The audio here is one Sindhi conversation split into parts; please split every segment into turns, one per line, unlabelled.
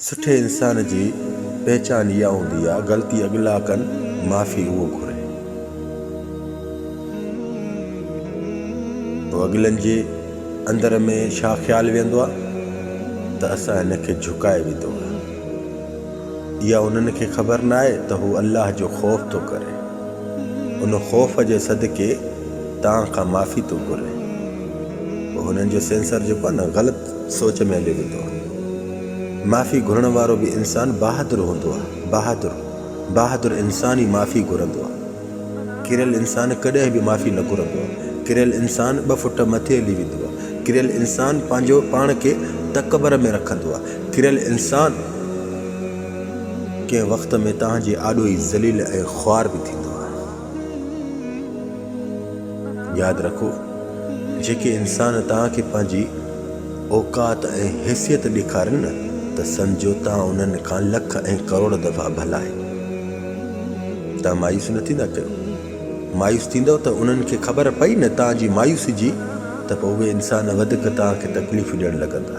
سٺي انسان جي پهچان اها هوندي آهي غلطي اڳلا ڪن معافي اهو گهري ته اڳلن جي اندر ۾ ڇا خيال ويهندو آهي ته اسان هن کي جهڪائي وڌو آهي اها انهن کي خبر ناهي ته هو الله جو خوف ٿو ڪري ان خوف جي صدقي توهان کان معافي ٿو گهري پوء هنن جو سينسر جيڪو آهي نه غلط سوچ ۾ هليو ويندو آهي. معافي گهرڻ وارو به انسان بهادر هوندو آهي. بهادر، بهادر انسان ئي معافي گهرندو آهي. ڪريل انسان ڪڏهن به معافي نه گهرندو آهي. ڪريل انسان ٻه فٽ مٿي هلي ويندو آهي. ڪريل انسان پنهنجو پاڻ کي تڪبر ۾ رکندو آهي. ڪريل انسان ڪنهن وقت ۾ توهان جي آڏو ئي ذليل ۽ خوار به ٿيندو آهي. ياد رکو، جيڪي انسان توهان کي پنهنجي اوقات ۽ حيثيت ڏيکارين نه ته سمجهو توهان انهن کان لک ۽ ڪروڙ دفعا ڀلا آهيو. توهان مايوس نه ٿيندا ڪيو. مايوس ٿيندؤ ته انهن کي خبر پئي نه توهان جي مايوسي جي ته پوء اهي انسان وڌيڪ توهان کي تڪليفون ڏيڻ لڳندا،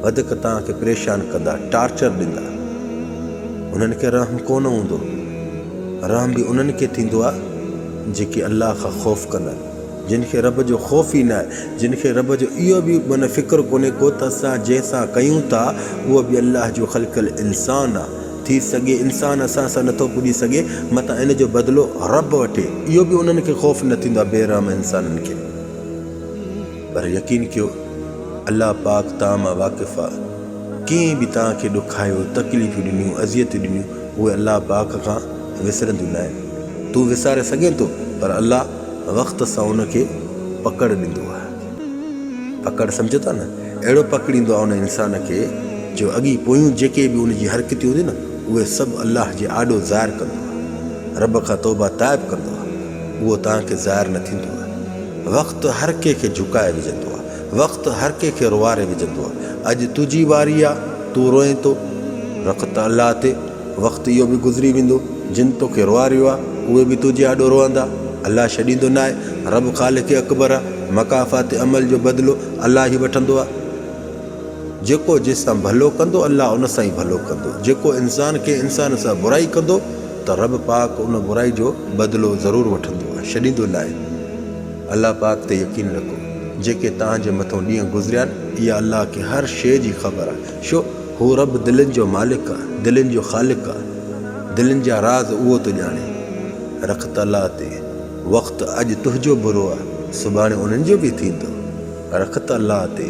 وڌيڪ توهان کي پريشان ڪندا، ٽارچر ڏيندا. انهن کي رحم ڪونه هوندو. رحم به انهن کي ٿيندو آهي جيڪي الله کان خوف ڪندا آهن جن کي رب جو خوف ئي ناهي جن کي رب جو اهو به معنيٰ فڪر ڪونهي ڪو ته اسان جنهن سان ڪيون ٿا اهو به الله جو خلقيل انسان آهي ٿي سگهي انسان اسان سان نٿو پڄي سگهي متان ان جو بدلو رب وٺي اهو به انهن کي خوف نه ٿيندو آهي بي رحم انسانن کي پر يقين ڪيو الله پاڪ تان مان واقف آهي. ڪنهن به توهان کي ڏکايو، تڪليفون ڏنيون، اذيتون ڏنيون، اهي الله پاڪ کان وسرنديون ناهن. تون وساري سگهين ٿو پر الله وقت سان ان کي پڪڙ ڏيندو آهي. پڪڙ سمجهو ٿا نه؟ اهڙو پڪڙيندو آهي ان انسان کي جو اڳي پويون جيڪي به ان جي حرڪتون هونديون نه اهي سڀ الله جي آڏو ظاهر ڪندو آهي. رب کان توبه تائب ڪندو آهي. اهو توهان کي ظاهر نه ٿيندو آهي. وقت هر ڪنهن کي جهڪائي وجهندو آهي. وقت هر ڪنهن کي روئاري وجهندو آ اڄ تنهنجي واري آ تون روئين ٿو رک ته الله تي وقت اهو به گذري ويندو جن توکي روئاريو آ اهي به تنهنجي آڏو روئندا الله ڇڏيندو ناهي رب خالق اڪبر آ مڪافات عمل جو بدلو الله ئي وٺندو آ جيڪو جس سان ڀلو ڪندو الله ان سان ئي ڀلو ڪندو جيڪو انسان ڪنهن انسان سان برائي ڪندو ته رب پاڪ ان برائي جو بدلو ضرور وٺندو آ ڇڏيندو ناهي. الله پاڪ تي يقين رکو جيڪي توهان جي مٿون ڏينهن گذريا آهن اها الله کي هر شيء جي خبر آهي ڇو هو رب دلين جو مالڪ آهي دلين جو خالق آهي دلين جا راز اهو ٿو ڄاڻي رخت الله تي وقت اڄ تنهنجو برو آهي سڀاڻي انهن جو به ٿيندو رخت الله تي